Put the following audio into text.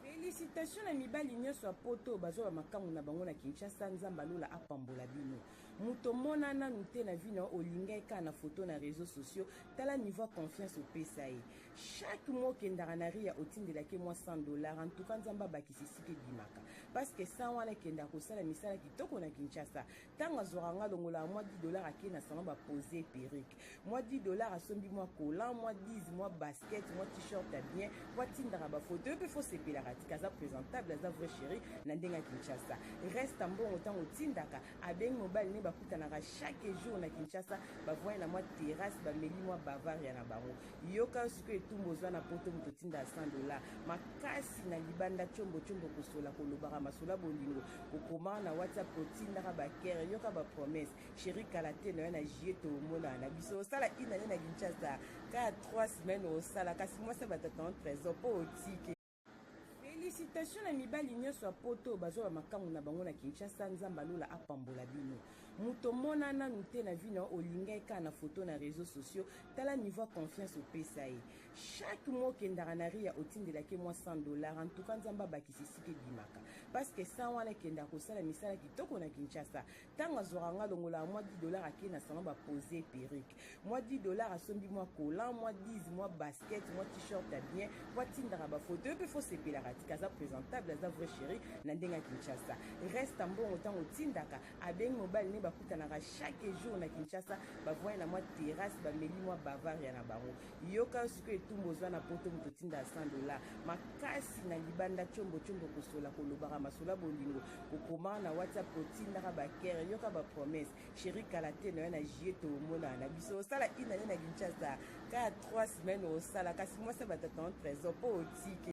Felicitation na mibali nyonso ya poto oyo bazwa bamakango na bango na Kinshasa. Nzambe ya lola apambola bino. Moto omona nanu te na vie na yo olinga ye kaka na foto na reseaux sociaux. Tala niveau ya confiance opesa ye. Chaque mois okendaka na Ria otindelaka ye mwa 100 dollars. En tout cas Nzambe abakisa esika ebimaka. Parce que 100 wana ekendaka kosala misala kitoko na Kinshasa. ntango azwaka nga longolaka mwa 10 dollar akei na salon bapose perruque mwa 10 dollar asombi mwa colan mwa 10 mwa basket mwa t-shirt ya bien mpo atindaka bafoto yo mpe fosepelaka tika aza présentable aza vrai chéri na ndenge ya kinshasa reste mbongo ntango otindaka abengi mobali ne bakutanaka chaque jour na kinshasa bavoye na mwa terrasse bameli mwa bavaria na bango Yoka sikoyo etumbu oza na poto moto otinda ya 100 dola makasi na libanda combo combo kosola kolobaka masola bolingo kokoma na whatsapp kotindaka bakere yoka bapromese sheri kala te na yo na jie tomonana na biso osala inane na kinshasa kaka 3 semaine osala kasi mwasi ya batata en trésor mpo otike Felicitation na mibali nyonso ya poto oyo bazwa bamakango na bango na Kinshasa. Nzambe ya lola apambola bino. Moto omona nanu te na vie na yo, olinga ye kaka na foto na reseaux sociaux. Tala niveau ya confiance opesa ye. Chaque mois okendaka na Ria otindelaka ye mwa 100 dollars. En tout cas Nzambe abakisa esika ebimaka. Parce que 100 wana ekendaka kosala misala kitoko na Kinshasa. ntango azwaka nga longolaka mwa 10 dollar akei na salon bapose perruque mwa 10 dollar asombi mwa colan mwa 10 mwa basket mwa t-shirt ya bien mpo atindaka bafoto yo mpe fosepelaka tika aza présentable aza vrai chéri na ndenge ya kinshasa reste mbongo ntango otindaka abengi mobali ne bakutanaka chaque jour na kinshasa bavoye na mwa terrasse bameli mwa bavaria na bango yoka yo sikoyo etumbu ozwa na poto moto otindaka 100 dollar makasi na libanda combo combo kosola kolobaka masolo ya bolingo kokoma na whatsapp kotindaka bakere yoka bapromesse sheri kala te nayo na jie tomonana na biso osala inane na kinshasa kaka 3 semaine osala kasi mwasi ya batata na trésor mpo otike